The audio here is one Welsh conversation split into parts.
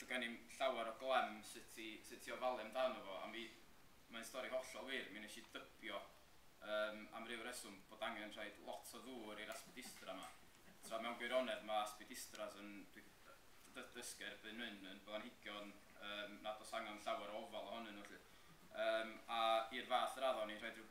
Doedd gen i'm llawer o glem sut i sut i ofalu amdano fo, a mi... mae'n stori hollol wir, mi wnes i dybio, yym, am ryw reswm, bod angen rhoid lot o ddŵr i'r aspidistra 'ma. Tra mewn gwirionedd, mae aspidistras yn... dwi 'di d- dysgu erbyn hyn, yn blanhigion, yym, nad oes angen llawer o ofal ohonyn nhw 'lly. Yym, a i'r fath radda o'n i'n rhoid ryw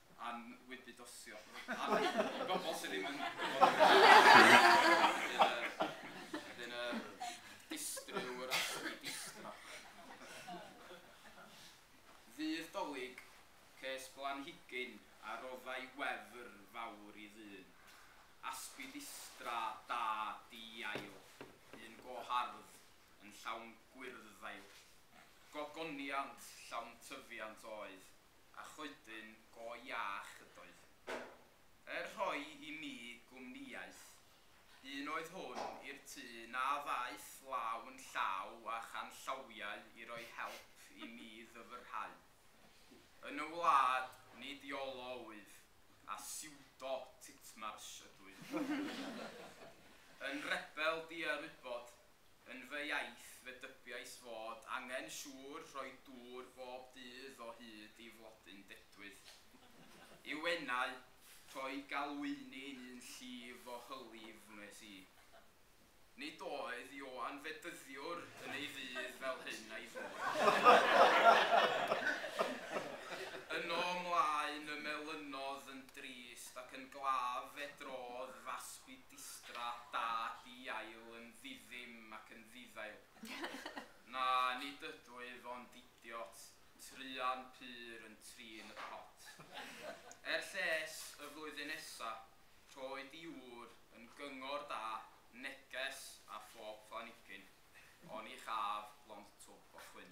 am wybudosio am y bobl sydd ddim yn gwybod am yr ASCII. Wedyn y distryw yr ASCII distra. Ddydd Dolig, ces blanhigyn a roddai wefr fawr i ddyn. ASCII distra da di-ail, un go hardd, yn llawn gwyrdd-ddail. Gogoniant llawn tyfiant oedd. a choedyn go iach ydoedd. Er rhoi i mi gwmnïaeth, un oedd hwn i'r tŷ na ddaeth law yn llaw â chanllawiau i roi help i mi ddyfrhau. Yn y wlad, nid Iolo wyf, a siwdo Titmarsh ydwyf. Yn rebel diarwybod, Yn fy iaith fe dybiais fod angen siŵr rhoi dŵr bob dydd o hyd i flodyn dedwydd. I Wenau, rhoi galwyni'n un llif o hylif wnes i. Nid oedd Ioan Fedyddiwr yn ei ddydd fel hyn a'i ddŵr. Yno ymlaen y melynodd yn drist ac yn glaf fe drodd fasg i Dystra da hi ail yn ddi-ddim ac yn ddi-ddail. Na, nid ydw i, fond idiot, truan pur yn trin y pot. Er lles, y flwyddyn nesa, rhoi di ŵr yn gyngor da, neges ar phob planigyn, oni chaf lond twb o chwyn.